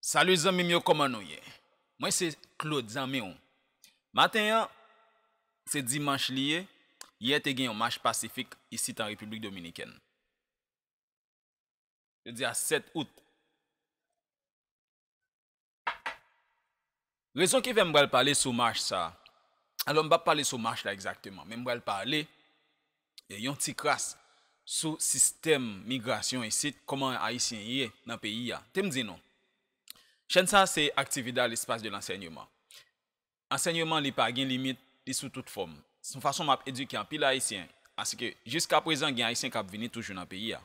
Salut zanmim yo koman nou ye mwen se Claude zanmi w maten an se dimanch li ye yè te gen yon mach pasifik isit an repiblik dominikèn jodi a 7 out Rezon ki fè m pral pale sou mach sa a, alò m p ap pale sou mach la egzakteman, men m pral pale yon ti kras sou sistèm migrasyon isit, kòman Ayisyen ye nan peyi a. Te m di nou, chèn sa a se Actividad L'espace de l'Enseignement. Ansèyman li pa gen limit, li sou tout fòm. Se yon fason m ap edike anpil Ayisyen, aske jiskaprezan gen Ayisyen k ap vini toujou nan peyi a.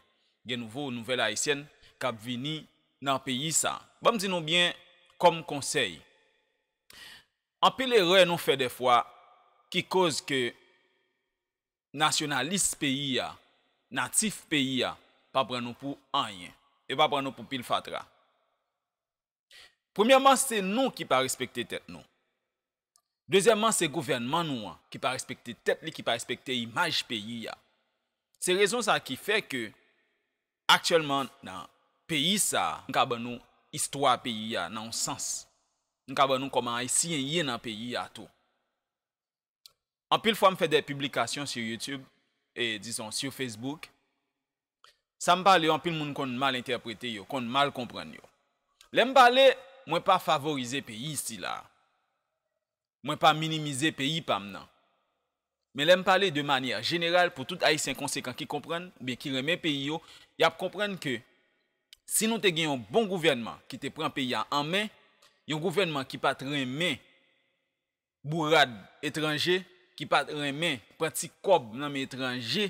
Gen nouvo, nouvèl Ayisyèn k ap vini. nan peyi sa. Banm di nou byen kòm konsèy anpil erè nou fè dèfwa ki koz ke nasyonalis peyi a, natif peyi a pa pran nou pou anyen. Yo pa pran nou pou pil fatra. Premyèman se nou ki pa respekte tèt nou. Dezyèman se gouvènman nou an ki pa respekte tèt li, ki pa respekte imaj peyi a. Se rezon sa ki fè ke aktyèlman nan peyi sa, m ka ban nou istwa peyi a nan yon sans. M ka ban nou kòman Ayisyen ye nan peyi a tou. Anpil fwa m fè de piblikasyon sur YouTube e dizon sur Facebook, sa m pale yo anpil moun konn mal entèprete yo, konn mal konprann yo. Lè m pale, mwen pa favorize peyi sila a. Mwen pa minimize peyi pa m nan. Men lè m pale de manyè jeneral pou tout Ayisyen konsekan ki konprann oubyen ki renmen peyi yo, y ap konprann ke si nou te gen yon bon gouvènman ki te pran peyi a an men, yon gouvènman ki pa t renmen bourad etranje ki pat renmen pran ti kòb nan men etranje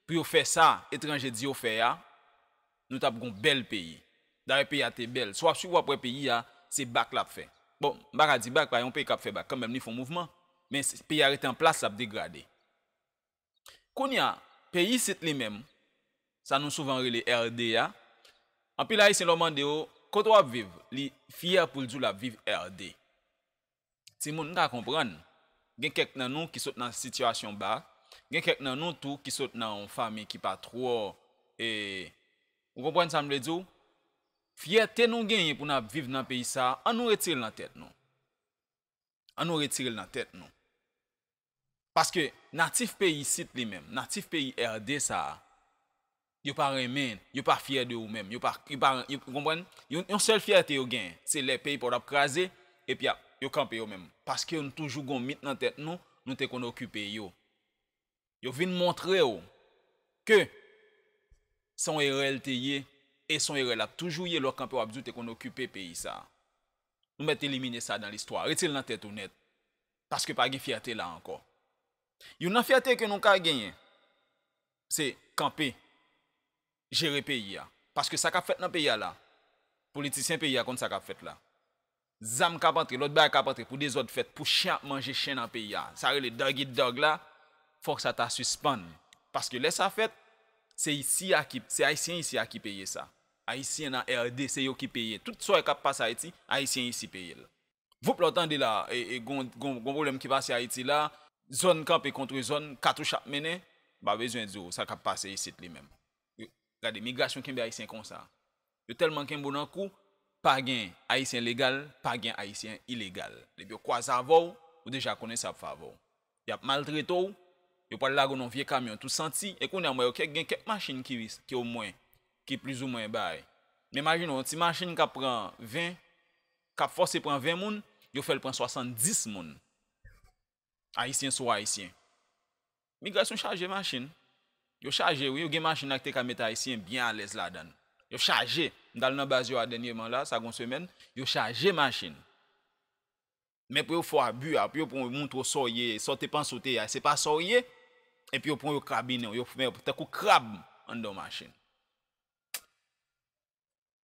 pou yo fè sa etranje di yo fè a nou tap gon bèl peyi dayè peyi a te bèl si wap swiv wap wè peyi a se bak lap fè bon m paka di bak pa yon peyi kap fè bak kanmèm li fon mouvman men peyi a rete an plas lap degrade. Kounye a, peyi isit li menm, sa nou souvan rele RD a, anpil Ayisyen lè w mande yo, kote w ap viv, li fyè pou l di w l ap viv RD. Timoun, m ka konprann, gen kèk nan nou ki sot nan sitiyasyon ba, gen kèk nan nou tou ki sot nan yon fanmi ki pa twò e, ou konprann sa m vle di w, fyète nou genyen pou n ap viv nan peyi sa a, an nou retire l nan tèt nou. An nou retire l nan tèt nou. Paske natif peyi isit li menm, natif peyi RD sa a, yo pa renmen, yo pa fyè de ou menm, yo pa, yo pa, ou konprann? Yon sèl fyète yo genyen, se lè peyi pa w ap kraze, epi y ap, yo kanpe yo menm. Paske nou toujou gon mit nan tèt nou, nou te konn okipe yo. Yo vin montre w ke se yon erè l te ye, e se yon erè l ap toujou ye lè w ap kanpe w ap di w te konn okipe peyi sa a. Nou mèt elimine sa dan listwa. Rete l nan tèt ou nèt. Paske pa gen fyète la ankò. Youn nan fyète ke nou ka genyen, se kanpe, jere peyi a. Paske sa k ap fèt nan peyi a la, politisyen peyi a konn sa k ap fèt la. Zam k ap antre, lòt bagay k ap antre pou dezòd fèt, pou chen ap manje chen nan peyi a. Sa rele dog eat dog la, fòk sa ta sispann. Paske lè sa fèt, se isi a ki, se ayisyen isi a ki peye sa. Ayisyen nan RD, se yo ki peye. Tout sa yo k ap pase Ayiti, ayisyen isi peye l. Voup la w tande la e gon pwoblèm ki pase Ayiti la, zòn kanpe kontre zòn, katouch ap mennen, m pa bezwen di w sa k ap pase isit li menm. Gade, migrasyon kenbe Ayisyen konsa. Yo tèlman kenbe w nan kou, pa gen Ayisyen legal, pa gen Ayisyen ilegal. Depi yo kwaze avè w, ou deja konnen sa y ap fè avè w. Y ap maltrete w, yo pral lage w nan yon vye kamyon tou santi, e kounye a m wè yo gen kèk machin ki omwen, ki plizoumwen bay. Men imajine w, yon ti machin k ap pran 20, Kap fòse pran 20 moun, yo fèl pran 70 moun. Ayisyen sou ayisyen. Migrasyon chaje machin. Yo chaje wi, yo gen machin la ki te ka met ayisyen byen alèz ladann. Yo chaje. M tal nan baz yo a dènyeman la, sa gon semèn, yo chaje machin. Men pou yo fè w abi a, pou yo pran w yo montre w sa w ye, sa w te panse w te ye a, se pa sa w ye, epi yo pran w yo krabinen w, yo fè w tankou krab anndan w machin.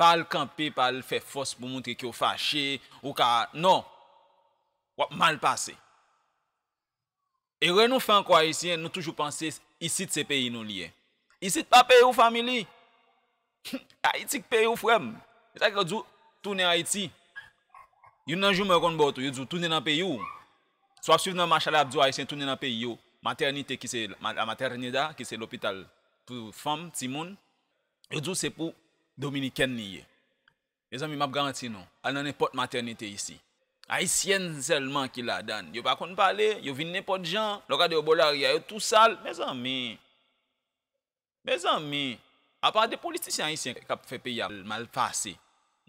Pa al kanpe pa al fè fòs pou moutre kew fache ou ka non wap mal pase erè nou fè ankò ayisyen nou toujou panse isit se peyi nou liye isit pa peyiw family humm ayiti k peyiw frèm se sak fè yo diw tounen ayiti youn nan jouman yo konn baw tou yo diw tounen nan peyiw si wap swiv nan mach la yap diw ayisyen tounen nan peyi yo matènite ki se la materneda ki se lopital pou fanm timoun. Yo di w se pou Dominikèn li ye. Mezanmi map garanti nou, al nan nenpòt matènite isi, Ayisyèn sèlman ki ladann. Yo pa konn pale, yo vin nenpòt jan, lè w gade yo bò lari a yo tou sal. Mezanmi! Mezanmi! Apa de politisyen ayisyen kap fè peyi a mal pase.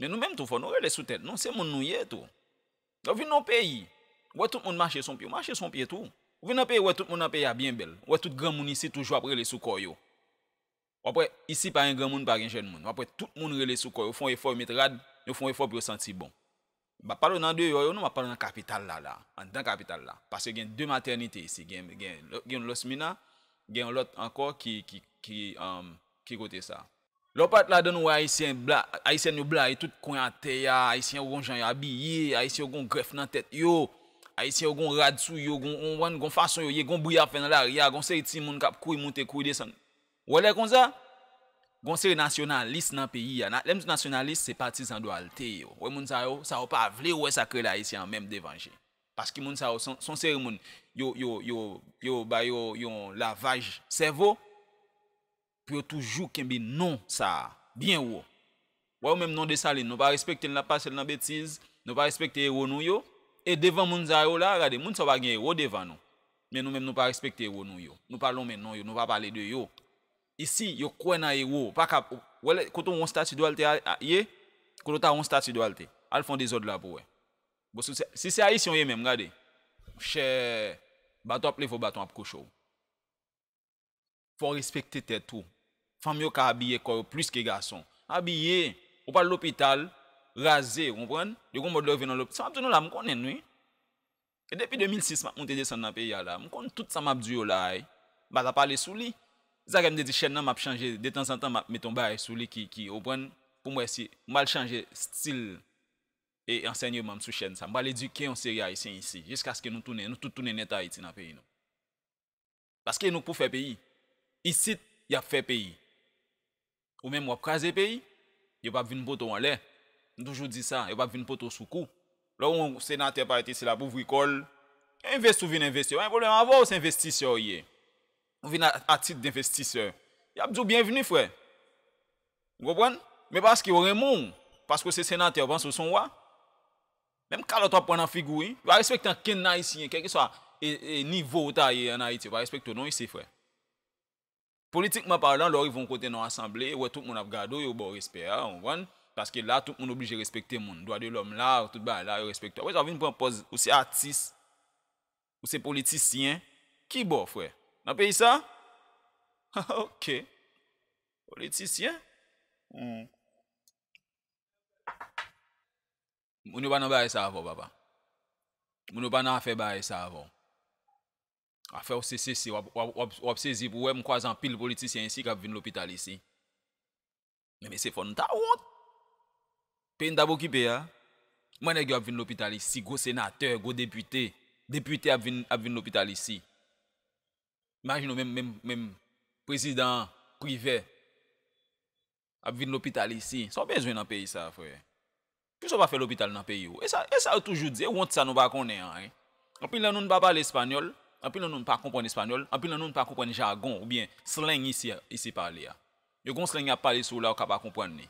Men nou menm tou fò nou rele sou tèt nou, se moun nou ye tou. Lè w vin nan yon peyi, ou wè tout moun mache son pye, ou mache son pye tou. Ou vin nan yon peyi ou wè tout moun nan peyi a byen bèl, ou wè tout granmoun isi toujou ap rele sou kò yo. Wap wè, isi pa gen granmoun pa gen jèn moun. Wap wè tout moun rele sou kò, yo fon efò yo met rad, yo fon efò pou yo santi bon. M pa pale w nan deyò yo non, m ap pale w nan kapital la la, anndan kapital la. Paske gen 2 matènite isi, gen yon Los Mina, gen yon lòt ankò ki ki kote sa. Lè w parèt ladann ou wè ayisyen, ayisyèn yo blayi tout kwen atè a, ayisyen yo gon jan yo abiye, ayisyen yo gon grèf nan tèt yo, ayisyen yo gon rad sou yo, gon, ou konprann, gon fason yo ye, gon bri y ap fè nan lari a, gon seri timoun k ap kouri moute, kouri desann. Ou wè lè konsa, gon seri nasyonalis nan peyi a, lè m di nasyonalis se patizan Duarte yo, ou wè moun sa yo, sa yo pa vle wè sa k rele Ayisyen an menm devan je. Paske moun sa yo se yon seri moun yo, yo, yo, yo ba yo yon lavaj sèvo pou yo toujou kenbe non sa a byen wo. Wè ou menm non Dessalines nou pa respekte l nap pase l nan betiz, nou pa respekte ewo nou yo, e devan moun sa yo la, gade moun sa yo pa gen ewo devan nou, men nou menm nou pa respekte ewo nou yo, nou pa lonmen non yo, nou pa pale de yo. Isi yo kwè nan ewo, ou paka, wè lè, kote ou wè yon stati Duarte a ye, kote ou ta wè yon stati Duarte, al fè yon dezòd la pou wè. Bon si w se, si se Ayisyen ou ye menm gade, monchè, baton ap leve w baton ap kouche w. Fò w respekte tèt ou. Fanm yo ka abiye kò yo plis ke gason. Abiye! Ou pral lopital, raze, ou konprann? Yo gen yon mòd lè yo vin nan lop, sa m ap di nou la, m konnen l wi. E depi 2006 m ap moute desann nan peyi a la, m konn tout sa m ap di yo la a, m pa ta pale sou li. Se sa fè m te di chèn nan m ap chanje, detanzantan m ap mete yon bagay sou li ki, ki, ou konprann, pou m wè si, m pral chanje stil e ansènyeman m sou chèn sa. M pral edike yon seri Ayisyen isi, jiskaske nou tounen, nou tout tounen nèt Ayiti nan peyi nou. Paske nou k pou fè peyi. Isit yap fè peyi. Ou menm wap kraze peyi. Yo pap vin pote w anlè. M toujou di sa. Yo pap vin pote w sou kou. Lè w wè yon senatè parèt isi lap ouvri kò l. Envesti w vin envesti. Yo pa gen pwoblèm avè w se envestisè w ye. Ou vin a tit denvestisè. Yap di w byenvni frè. Ou konprann? Men paske yo renmen w. Paske w se senatè yo panse w son wa. Menm kalòt wap pran nan figi w wi. Yo pa respekte ankenn ayisyen kèlkeswa nivo ou ta ye an Ayiti yo pa respekte w non isi frè. Politikman palan lè w rive yon kote nan yon asanble ou wè tout moun ap gade w yo ba w respè a ou konprann paske la tout moun oblije respekte moun dwa de lòm la tout bagay la yo respekte w apresa w vin pran pòz ou se atis ou se politisyen ki bò frè nan peyi sa hahah ok politisyen humm. Moun yo pa nan bagay sa avèw papa. Moun yo pa nan afè bagay sa avèw. Afèw se sese wap sezi pou wè m kwaze anpil politisyen isi kap vin lopital isi. Men mesye fò nou ta wont. Peyi nou tap okipe a. Kman nèg yo ap vin lopital isi gwo senatè, gwo depite, depite ap vin lopital isi. Imajine w menm prezidan an, privè. Ap vin lopital isi. Sa w bezwen nan peyi sa frè? Poukisa w pa fè lopital nan peyi w? E sa e sa yo toujou di, e wont sa nou pa konnen an hein. Anpil nan nou n pa pale espanyòl, anpil nan nou n pa konprann espanyòl, anpil nan nou n pa konprann jagon oubyen slang isi a isi pale a. Yo gon slang y ap pale sou w la ou ka pa konprann li.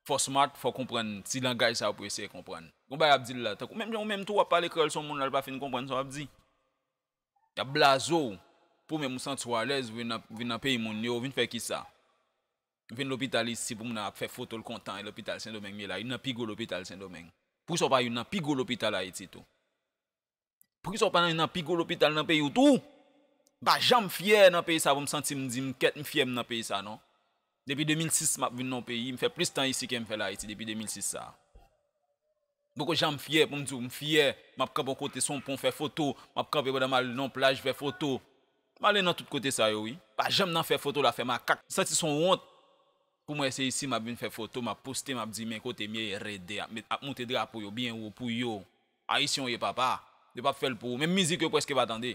Fò smart, fò w konprann ti langaj sa yo pou eseye konprann. Gon bagay y ap di l la, tankou menm jan ou menm tou w ap pale kreyòl sou yon moun la l pa fin konprann sa w ap di. Yap blaze w pou menm ou santi w alèz vin nan vin nan peyi moun yo ou vin fè kisa? M vin lopital isi pou moun nan ap fè foto l kontan e lopital sendomeng m ye la youn nan pi gwo lopital sendomeng poukisa w pa youn nan pi gwo lopital ayiti tou? Poukisa w pa youn nan pi gwo lopital nan peyi w tou? M pa janm fyè nan peyi sa pou m santi m di m kèt m fyè m nan peyi sa non. Depi 2006 map vin nan yon peyi, m fè plis tan isi kem fèl Ayiti depi 2006 sa. M poko janm fyè poum diw m fyè, map kanpe yon kote sou yon pon fè foto, map kanpe pandan mal nan yon plaj fè foto. M ale nan tout kote sa yo wi. Pa janm nan fè foto la fè makak. M santi son wont pou mwen se isi map vin fè foto, map poste map di men kotem ye, RD ap moute drapo yo byen wo pou yo. Ayisyen w ye papa, yo pap fèl pou ou, menm mizik yo preske pa tande.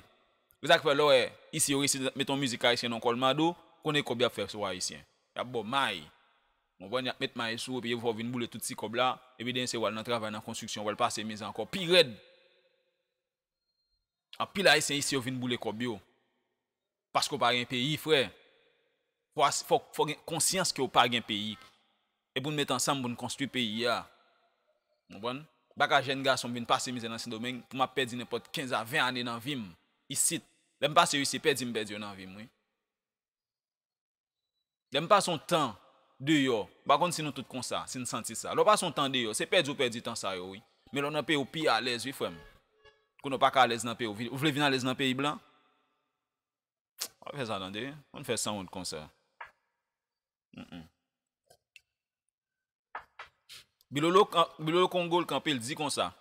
Se sak fè lè w wè isi yo resi met yon mizik ayisyen non kolmado, konnen kob yap fè sou ayisyen. Yap baw may, ou konprann yap met may sou ou epi yo fè w vin boule tout ti kob la, epi dènye se wal nan travay nan konstriksyon wal pase miz ankò pi rèd. Anpil ayisyen isi yo vin boule kòb yo paske w pa gen peyi frè fòk fòk gen konsyans ke w pa gen peyi e pou n met ansanm pou n konstwi peyi a ou konprann baka jèn gason m vin pase mizè nan sendomeng pou m ap pèdi nenpòt 15 a 20 ane nan vi m isit lè m pase yo isi pèdi m pèdi yo nan vi m wi. Lè m pase yon tan deyò, m pa konn si nou tout konsa, si n santi sa. Lè w pase yon tan deyò, se pèdi ou pèdi tan sa yo wi. Men lè w nan peyi w pi alèz wi frè m. Kounye w pa ka alèz nan peyi w. Ou vle vin alèz nan peyi blan? Pa fè sa tande. Pa fè sanwont konsa. Bilolo, Bilolo Kongo l kanpe l di konsa,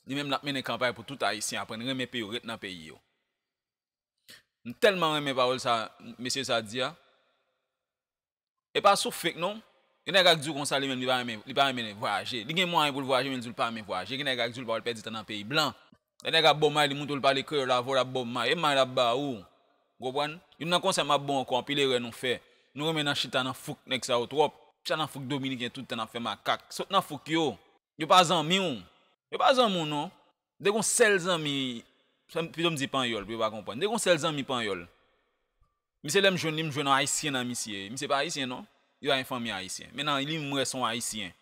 li menm l ap mennen kanpay pou tout Ayisyen aprann renmen peyi yo, ret nan peyi yo. M tèlman renmen pawòl sa mesye sa di a. E pa sou fake non. Gen nèg ak di w konsa li menm li pa renmen li pa renmen vwayaje. Li gen mwayen pou l vwayaje men li di w li pa renmen vwayaje. Gen nèg ak di w li pa wè l pèdi tan nan peyi blan. Lè nèg ap ba w may li montre w li pale kreyòl avè w l ap ba w may. E may l ap ba ou. Ou konprann? Youn nan konsèy m ap ba w ankò anpil erè nou fè. Nou renmen nan chita nan fouk nèg sa yo twòp. Chita nan fouk dominiken tout tan n ap fè makak. Sot nan fouk yo. Yo pa zanmi w. Yo pa zanmi w non. Mte gon sèl zanmi, pito m di panyòl pou yo pa konprann, mte gon sèl zanmi panyòl. Misye lè m jwenn li m jwenn yon ayisyen nan misye, misye pa ayisyen non, li pa gen fanmi ayisyen, men nan li m wè se yon ayisyen.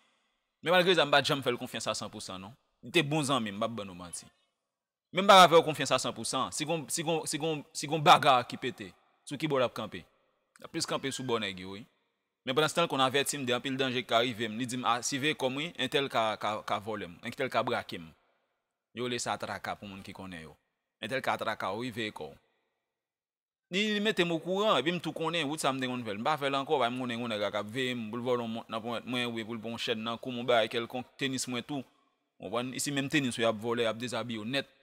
Men malgre sa m pat janm fè l konfyans a san pou san non. Li te bon zanmi m, m pap ban nou manti. Men m pa ka fè w konfyans a san pou san, si gon, si gon, si gon, si gon bagar ki pete, sou ki bò lap kanpe? Lap plis kanpe sou bò nèg yo wi. Men pandanstan l konn avèti m de anpil danje ki ka rive m, li di m a siveye kò m wi, entèl ka ka vòlè m, entèl ka brake m. Yo rele sa traka pou moun ki konnen yo. Entèl ka traka w wi veye kò w. Li li mete m okouran epi m tou konnen wout sa m te konn fè l. M pa fè l ankò paske m konnen gen yon nèg la k ap veye m pou l vòlè yon mont nan ponyèt mwen oubyen pou l pran yon chèn nan kou m yon bagay kèlkonk, tenis mwen tou. Ou konprann? Isi menm tenis ou y ap vòlè, y ap dezabiye w nèt.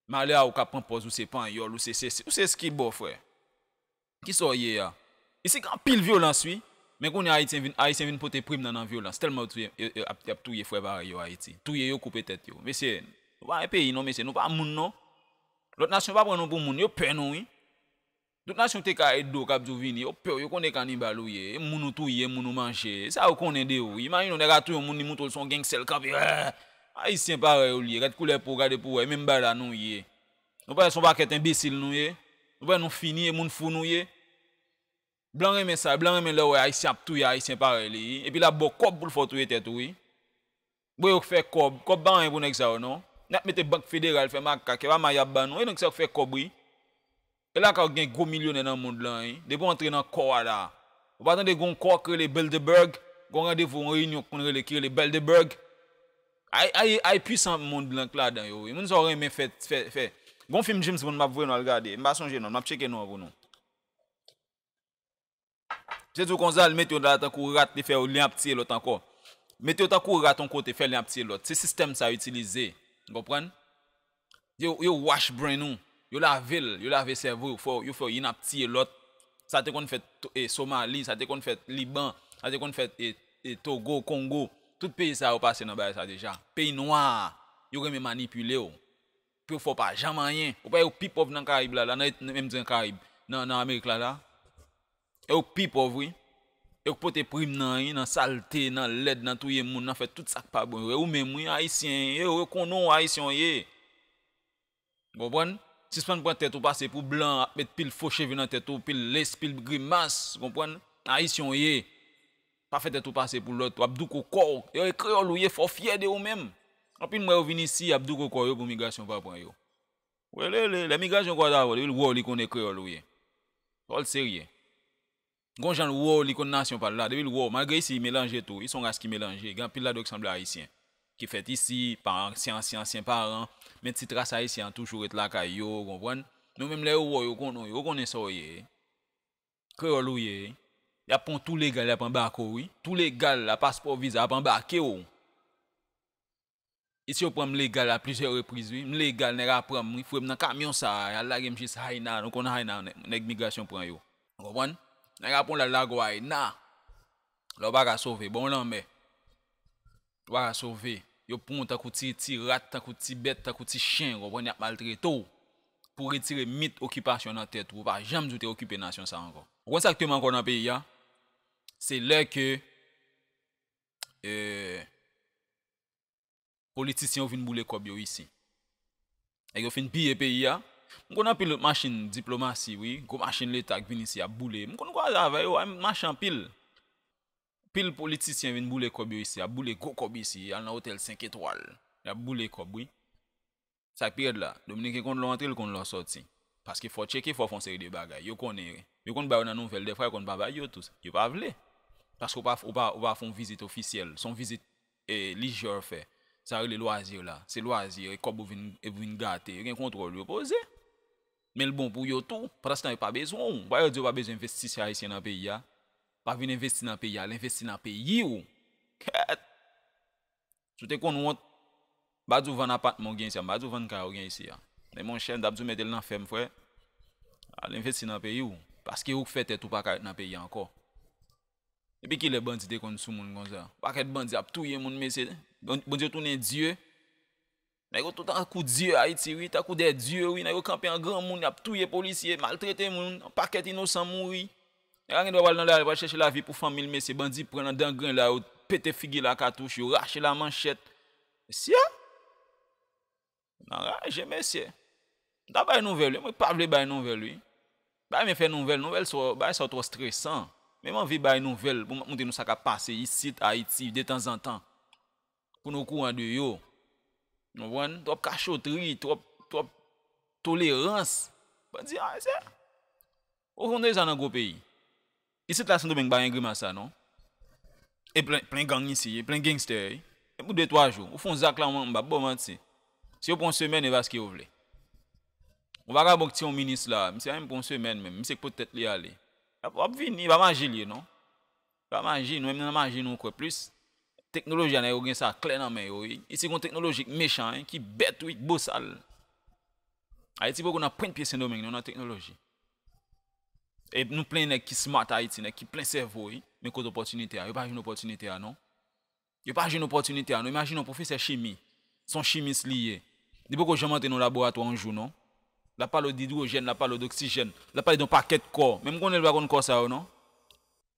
Malè a ou k ap pran pòz ou se panyòl, ou se sesi, ou se skibo frè. Kisa w ye a? Isi gen anpil vyolans wi. Men kounye a ayityen vin ayisyen vin pote prim nan nan vyolans telman yo touye yo yo ap ap touye frè parèy yo ayiti. Touye yo koupe tèt yo. Mesye Nou pa gen peyi non mesye Nou pa moun non. Lòt nasyon pa pran nou pou moun yo pè nou wi. Tout nasyon te ka ede w kap di w vini yo pè w yo konnen e kanibal ou ye e moun ou touye e moun ou manje e sa yo konnen de ou wi. Imajine w nèg a touye yon moun li montre w son gangster li kanpe rèèèè. Ayisyen parèy w li ye gad koulè po w gade pou w wè e menm bagay la nou ye. Nou pale son pakèt enbesil nou ye, nou pale nou fini e moun fou nou ye. Blan renmen sa, blan renmen lè wè ayisyen ap touye ayisyen parèy li wi, epi lap baw kòb poul fè w touye tèt ou wi. Bon yo k fè kòb, kòb pa anyen pou nèg sa yo non. Nap mete bank federal fè makak, epa may yap ban nou, e nèg sa yo k fè kòb wi. E lakay ou gen gwo milyonè nan mond lan wi, depi w antre nan kò a la. Ou pa tande gon kò k rele Bilderberg, gon randevou yon reyinyon k konn rele ki rele Beldeberg. Ay ay ay pwisan moun blan k ladan yo wi moun sa w renmen fè fè fè gon fim James Bond map voye nou al gade m pa sonje non l map tcheke non an pou nou se tou konsa l mete yo la tankou rat li fè yo li ap tiye lòt ankò mete yo tankou rat on kote fè li ap tiye lòt se sistèm sa yo itilize konprann. Yo wash brain ou, yo lave l, yo lave sèvo yo fè w, yo fè w yn ap tiye lòt, sa te konn fèt Somali, sa te konn fèt Liban, sa te konn fèt Togo, Kongo, tout peyi sa yo pase nan bagay sa deja. Peyi nwa a, yo renmen manipile w, pou yo fè w pa janm anyen. Ou pa wè yo pi pòv nan Karayib la la, menm di nan Karayib, nan Amerik la la. Yo k pi pòv wi. Yo k pote prim nan wi, nan salte, nan lèd, nan touye moun, nan fè tout sa k pa bon yo. E ou menm wi, Ayisyen, e yo konnen w Ayisyen w ye. Ou konprann? Sispann pran tèt ou pase pou blan ap met pil fo cheve nan tèt ou, pil less, pil grimas, ou konprann? Ayisyen w ye. Pa fè tèt ou pase pou lòt, w ap douko kò w. E e kreyòl ou ye, fò w fyè de ou menm. Anpil m wè yo vin isi, y ap douko kò yo pou migrasyon pa pran yo. Welele, lè migrasyon kwaz avèw depi l wèw li konnen kreyòl ou ye. Fòl serye. Gon janl wèw li konn nasyon pal la, depi l wèw, malgre isi yi melanje tou wi, son ras ki melanje, gen anpil ladanw ki sanble ayisyen. Ki fèt isi, pa ansyen ansyen ansyen paran, men ti tras ayisyen an toujou ret lakay yo, ou konprann. Men yo menm lè yo wèw yo konnen w, yo konnen saw ye. Kreyòl ou ye. Yap pranw tou legal yap anbake w wi. Tou legal la, paspò viza, yap anbakew. Isi yo pranm legal a plizyè repriz wi, m legal nèg a pranm wi, fouem nan kamyon sa a, yal lagem jis Haina, nou konn Haina nèg migrasyon pran yo. Ou konprann? Nèg a pranw lal lagw Haina, la ou paka sove, bon lanmè, ou paka sove, yo pranw tankou ti ti rat, tankou ti bèt, tankou ti chen, ou konprann, yap maltretew pou retire mit okipasyon nan tèt ou, ou pa janm di ou te okipe nasyon sa ankò. Ou konn sak tuem ankò nan peyi a? Se lè ke politisyen yo vin boule kòb yo isi. Nèg yo fin piye peyi a. M konn anpil lòt machin diplomasi wi, gwo machin leta k vin isi ap boule. M konn kwaze avè yo, m mache anpil. Anpil politisyen vin boule kòb yo isi, ap boule gwo kòb isi, al nan otèl 5 etwal, y ap boule kòb wi. Sa k pi rèd la, dominiken konn lè w antre l konn lè w sòti. Paske fò w tcheke, fò w fè yon seri de bagay. Yo konnen, yo konn ba yo nan nouvèl, dèfwa yo konn pa bay yo tou. Yo pa vle. Paske w pa, w pa, w pa fè yon vizit ofisyèl. Se yon vizit e, lijè w fè. Sa yo rele lwazi la. Se lwazi, e kòb ou vin, e pou vin gate. Yo gen kontwòl, yo poze. Men l bon pou yo tou. Pandanstan yo pa bezwen w. Wè yo di yo pa bezwen envestisè ayisyen nan peyi a. Pa vin envesti nan peyi a. Al envesti nan peyi w. Kèèt! Si w te konn wont, m pa di w vann apatman w gen isi a, m pa di w vann kay ou gen isi a. Men monchè, m ta ap di w mete l nan fèm frè. Al envesti nan peyi w. Paske ou k fè tèt ou pa ka ret nan peyi a ankò. Depi kilè bandi te konn soumoun konsa? Pakèt bandi ap touye moun mesye. Bondye tounen Dye. Nèg yo tout ankou dye ayiti wi, tankou de dye wi, nèg yo kanpe an granmoun yap touye polisye, maltrete moun, yon pakèt inosan mouri. Nèg la gen dwa pral nan lari pral chèche lavi pou fanmi l mesye, bandi pran nan dan grenn la yo pete figi l a katouch, yo rache l a manchèt. Mesye! M anraje mesye. M ta bay nouvèl wi, mwen pa vle bay nouvèl wi. M pa renmen fè nouvèl, nouvèl sa yo, bagay sa yo twò stresan. Men m anvi bay nouvèl pou m ap montre nou sa k ap pase isit ayiti detanzantan. Pou n okouran de yo. Nou konprann? Twòp kachotri, twòp, twòp tolerans. Bandi a se. Ou konn deja nan gwo peyi. Isit la sendomeng pa gen grimas sa non. E plen, plen gang isi, e plen gangster. E pou de twa jou. Ou fon zak la ou m pa ba w manti. Si yo pran yon semèn e va ske yo vle. Yon vagabon ki tiye yon minis la, misye pa menm pran yon semèn menm. Misye k pot tèt li ale. Wap vini, e pa maji li ye non. Pa maji nou menm nan maji nou kwè plis teknoloji a nèg yo gen sa klè nan men yo wi isi gon teknoloji k mechan wi ki bèt wi k bosal ayiti poko nan pwent pye sendomeng non nan teknoloji e nou plen nèg ki smart ayiti nèg ki plen sèvo wi men kote opòtinite a yo pa jwenn opòtinite a non. Yo pa jwenn opòtinite a non. Imajine yon pwofesè chimi, se yon chimis li ye. Li poko janm antre nan yon laboratwa yon jou non. L ap pale w d'idwojèn, l ap pale w d'oksijèn, l ap pale w d'yon pakèt kò. Men m konnen li pa konn kò sa yo non.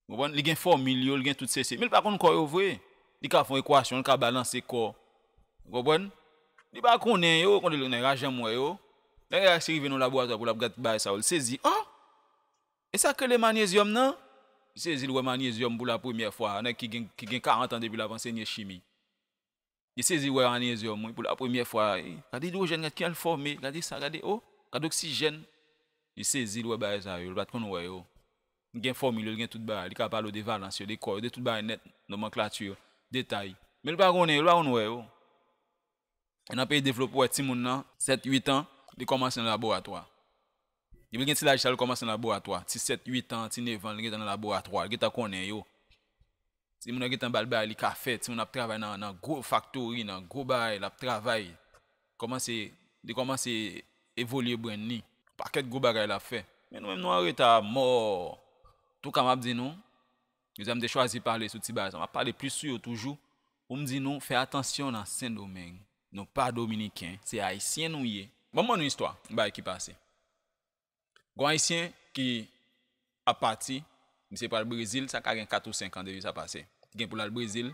Ou konprann? Li gen fòmil yo, li gen tout sesi. Men li pa konn kò yo vre. Li ka fè yon ekwasyon, li ka balanse kò. Ou konprann? Li pa konnen yo. Nèg la janm wè yo. Lè nèg la se rive nan yon laboratwa pou l ap gad bagay sa yo, li sezi. An! E sak rele maniezyòm nan? M sezi l wè maniezyòm pou la premyè fwa, nèg ki gen ki gen 40 an depi lap ansenye chimi. Li sezi wè aniezyòm wi pou la premyè fwa, gade idwojèn gade kijan l fòme, gade sa gade oh, gade oksijèn. Li sezi l wè bagay sa yo, l pat konn wè yo. Li gen fòmil yo, li gen tout bagay, li ka pale w de valans yo, de kò yo, de tout bagay nèt, nomanklati yo, detay. Men l pa konnen yo, l pa konn wè yo. Nan peyi devlope wè timoun nan 7, 8 an li kòmanse nan laboratwa. Depi li gen ti laj sa li kòmanse nan laboratwa. Ti 7, 8 an, ti 9 an li gentan nan laboratwa, li gentan konnen yo. Timoun nan gentan bal bagay li ka fè, timoun nan ap travay nan gwo faktori, nan gwo bagay lap travay. Kòmanse, li kòmanse evolye brenn li. Pakèt gwo bagay lap fè. Men nou menm nou anreta amò. Antouka map di nou, Jodi a m te chwazi pale sou Tibazon. M ap pale plis sou yo toujou pou m di nou fè atansyon nan Sendomeng. Nou pa Dominiken, se Ayisyen nou ye. Ban m ban nou istwa yon bagay ki pase. Gon Ayisyen ki ap pati, misye pral Brezil, sa ka gen 4 ou 5 an depi sa pase. Li gen pou l al Brezil.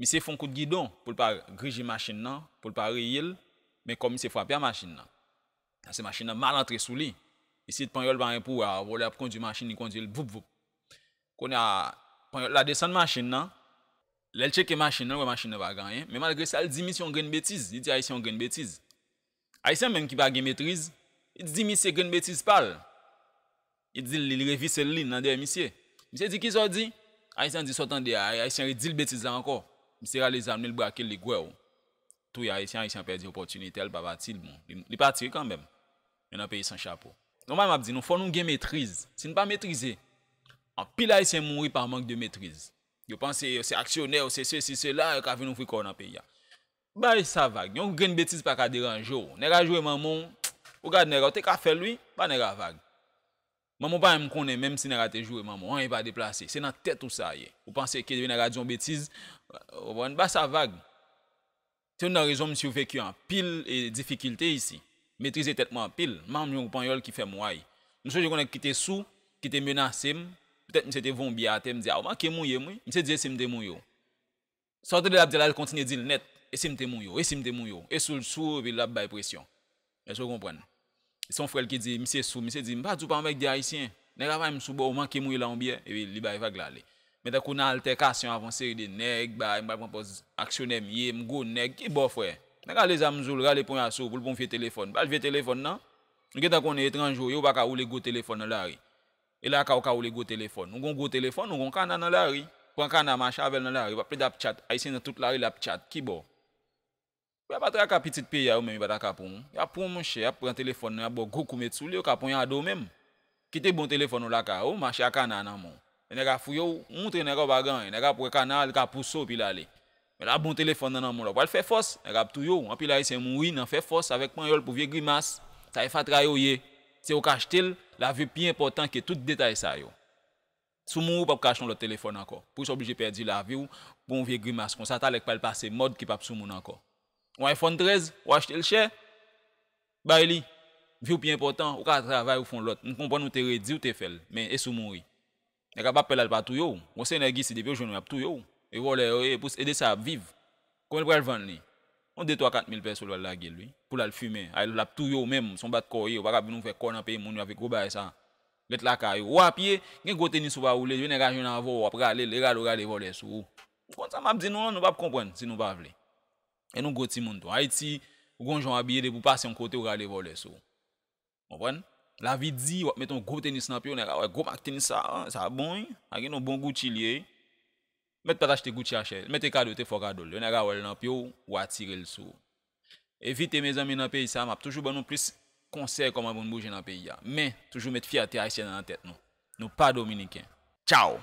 Misye fon kout gidon pou l pa grije machin nan, pou l pa reye l, men kò misye frape a machin nan. Pase machin nan mal antre sou li. Isit panyòl pa gen pou wè a, vòlè ap kondwi machin li kondwi l voup voup. Kounye a, panyòl la desann machin nan, lè l tcheke machin nan l wè machin nan pa gen anyen, men malgre sa l di misye yon grenn betiz, li di ayisyen yon grenn betiz. Ayisyen menm ki pa gen metriz, li di misye grenn betiz pa l. Li di l li lire vise l li nan dèyè misye. Misye di kisa w di? Ayisyen an di sa w tande a, Ayisyen an redi l betiz la ankò. Misye rale zam li, li brake l, li gwèw. Touye Ayisyen, Ayisyen an pèdi opòtinitè l pa pati l bon. Li pati wi kanmenm. Men nan peyi san chapo. Nòmal m ap di nou fò nou gen metriz. Si n pa metrize, anpil Ayisyen mouri pa mank de metriz. Yo panse yo se aksyonè, yo se sesi, sela, yo ka vin ouvri kò yo nan peyi a. Bay sa vag. Yon grenn betiz pa ka deranje w. Nèg a jwe manman w. Ou gad nèg a. Ou te ka fè l wi. Ba nèg a vag. Manman w pa menm konnen menm si nèg a te jwe manman w. Anyen pa deplase. Se nan tèt ou sa ye. Ou panse ke depi nèg a di yon betiz. Ou konprann? Ba sa vag. Se youn nan rezon m siveki anpil difikilte isi. M metrize tèt mwen anpil. M pa janm jwenn yon panyòl ki fè m way. M sonje yon nèg ki te sou, ki te menase m. Petèt misye te voye yon biyè atè, m di a ou manke mouye m wi. Misye di e si m te mouye w. Sa ou tande lap di la kontinye dil nèt e sim te mou yo e sim te mou yo e soul sou epi lap bay presyon èske ou konprann e son frèl ki di misye sou misye di mpa diw pa anmègde ayisyen nèg avay msou boo manke mouye la yon byè epi li bay vag la ale men tankou nan altèkasyon avan seri de nèg bay mpral pran pòz aksyonè myee mgwo nèg ki boo frè nèg rale zam mzoul rale ponya sou poul pwan vye telefòn pral vye telefòn nan ou gentan konnen etranj ou ye ou paka woule gwo telefòn nan lari E la ka ou ka woule gwo telefòn. Ou gon gwo telefòn, ou gon kana nan lari. Pran kana mache avèl nan lari. Wap plede ap tchat. Ayisyen nan tout lari lap tchat. Ki bò? Pou ya pa traka pitit peyi a yo menm yo pa ta ka pranw. Yap pranw monchè, yap pran telefòn nan, yap baw gwo kou met souli, yo ka ponyade w menm. Kite bon telefòn ou lakay ou, mache a kana nan menw. Lè nèg a fouye w, ou moutre nèg a ou pa gen anyen. Nèg ap wè kana a, li ka pouse w epi lale. Men la bon telefòn nan nan menw la pral fè fòs nèg ap touye w anpil ayisyen mouri nan fè fòs avèk panyòl pou vye grimas sa e fatra yo ye se yo k achte l la vie pi enpòtan ke tout detay sa yo sou mouri w pap ka achte yon lòt telefòn ankò pou sa w oblije pèdi la vi w pou yon vye grimas konsa talè k pral pase mòd ki pap sou moun ankò yon iphone 13 w achte l chè bay li vi w pi enpòtan ou ka travay ou fon lòt m konprann ou te redi ou te fè l men e sou mouri. Nèg la pa pè la li pa touye w. Monseyè Gisi depi yo jwenn ou yap touye w. E vòlè yo ye epous e de sa yap viv. Konbyen l pral vann li? Yon de twa kat mil pèso l pral lage l wi. Pou l al fimen. Ay lap touye w menm. Son bat kò w ye. Ou pa kap vin ouvè kò w nan peyi moun yo avèk gwo bagay sa. Ret lakay ou. Ou a pye. Gen gwo tenis ou pa woule. Jwenn nèg a jwenn avè w wap rale l. E rale w rale vòlè sou ou. Ou konn sa map di nou an? Nou pap konprann si nou pa vle. E nou gwo timoun tou. Ayiti ou gon jan w abiye depi w pase yon kote ou rale vòlè sou ou. Konprann? Lavi di, wap met yon gwo tenis nan pyew, nèg a wè gwo mak tenis sa, an, sa bon wi, a gen yon bon Gucci li ye wi. Mèt pat achte Gucci a chè, mèt e kado te fò kadol, yon nèg a wèl nan pyew, ou atirel sou ou. Evite mezanmi nan peyi sa, map toujou ban nou plis konsèy kòman pou nou bouje nan peyi a. Men, toujou met fyète ayisyèn an nan tèt nou. Nou pa dominiken. Tchao!